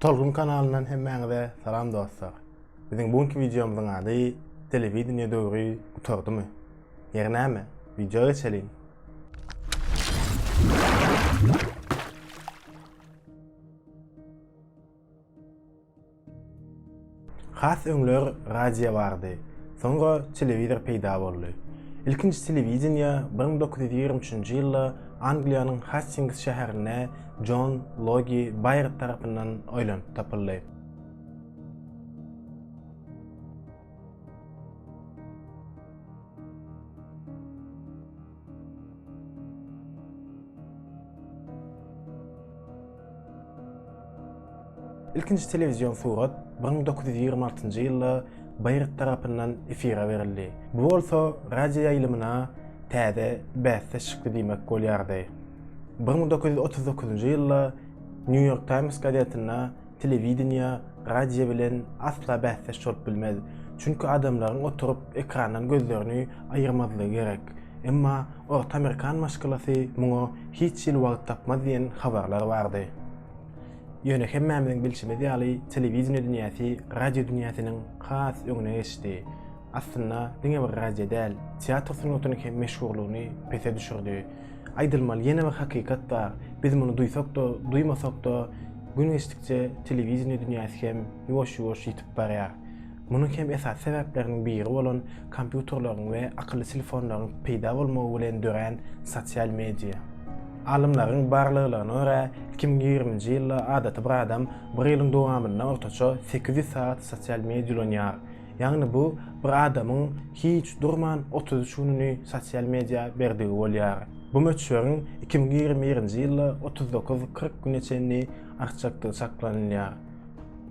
Tolgun kanalyndan hemmäňize salam dostlar. Biziň bu günki wideomyzyň ady Telewideniýe döwri gutardymy? Ýeri näme, wideo geçeliň. Has öňler radio bardy, soňra telewizor peýda boldy. Ilkinji telewideniýe bir müň dokuz ýüz ýigrimi üçünji ýylda Angliýanyň Hastings şäherinde Jon Logi Baýard tarapyndan oýlanyp tapyldy. Ilkinji telewizion surat 1926-njy ýylda Baýrd tarapyndan efire berildi. Bu bolsa radio ýaýlymyna täze bäsdeş çykdy diýmek bolýardy. 1939-njy ýylda New York Times gazetinde telewideniýe radio bilen asla bäsdeş bolup bilmez, çünki adamlaryň oturyp ekrandan gözlerini aýyrmazlygy gerek. Emma orta amerikan maşgalasy muňa hiç hili wagt tapmaz diýen habarlar bardy. Ýöne hemmämiziň bilşimiz ýaly telewideniýe dünýäsi radio dünýäsiniň has öňüne geçdi. Aslynda diňe bir radio däl, teatr sungatynyň hem meşhurlygyny pese düşürdi. Aýdylmaly ýene bir hakykat bar, biz muny duýsak-da, duýmasak-da gün geçdikçe telewideniýe dünýäsi hem ýuwaş-ýuwaş ýitip barýar. Munuň hem esasy sebäpleriniň biri bolan kompýuterleriň we akylly telefonlaryň peýda bolmagy bilen dörän sosial media. Alymlaryň barlaglaryna görä, iki müň ýigriminji ýylda adaty bir adam bir ýylyň dowamynda ortaça sekiz ýüz sagat sosial media ulanýar. Ýagny bu bir adamyň hiç durman otuz üç gününi sosial media berdigi bolýar. Bu möçberiň iki müň ýigrimi birinji ýylda otuz dokuz, kyrk güne çenli artjakdygy çaklanylýar.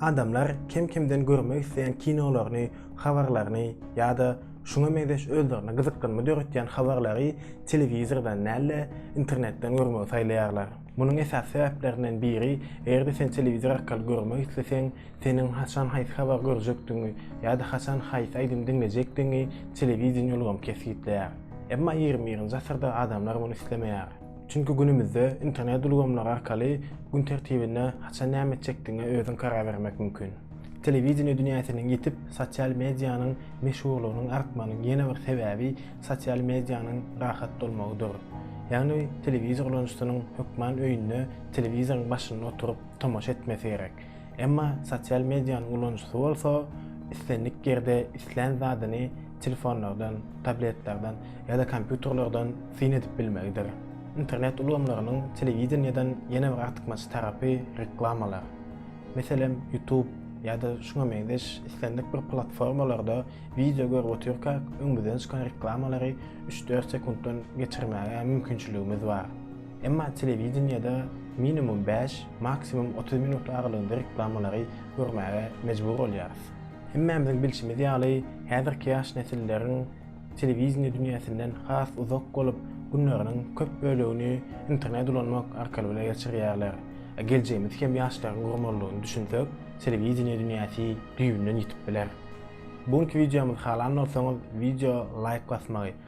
Adamlar kem-kemden görmek isleýän kinolaryny, habarlaryny ýa-da şuňa meňzeş özlerine gyzyklanma döretýän habarlary telewizordan däl-de, internetden görmegi saýlaýarlar. Munuň esasy sebäplerinden biri, eger-de sen telewizor arkaly görmek isleseň, seniň haçan haýsy habary görjekdigiňi ýa-da haçan haýsy aýdymy diňlejekdigiňi telewideniýe ulgamy kesgitleýär. Emma ýigrimi birinji asyrda adamlar muny islemeýär. Çünki günümizde internet ulgamlary arkaly gün tertibine haçan näme etjekdigiňe özüň karar bermek mümkin. Telewideniýe dünýäsiniň ýitip, sosial medianyň meşhurlygynyň artmagynyň ýene bir sebäbi sosial medianyň rahat bolmagydyr. Ýagny telewizor ulanyjysynyň hökman öýünde telewizoryň başynda oturyp tomaşa etmesi gerek. Emma sosial medianyň ulanyjysy bolsa islendik ýerde islän zadyny telefonlardan, tabletlerden ýa-da kompýuterlerden syn edip bilmegidir. Internet ulgamlarynyň telewideniýeden ýene bir artykmaç tarapy reklamalar. Meselem, YouTube ýa-da şuňa meňzeş islendik bir platformalarda wideo görüp otyrkak öňümizden çykan reklamalary üç-dört sekuntdan geçirmäge mümkinçiligimiz bar. Emma telewideniýede minimum bäş, maksimum otuz minut aralygynda reklamalary görmäge mejbur bolýarys. Hemmämiziň bilşimiz ýaly, häzirki ýaş nesilleriň telewideniýe dünýäsinden has uzak bolup, günleriniň köp bölegini internet ulanmak arkaly bile geçirýärler. Geljegimiz hem ýaşlaryň gurmalydygyny düşünsek, telewideniýe dünýäsi düýbünden ýitip biler. Bu günki wideomyzy halan bolsaňyz, wideo laýk basmagy,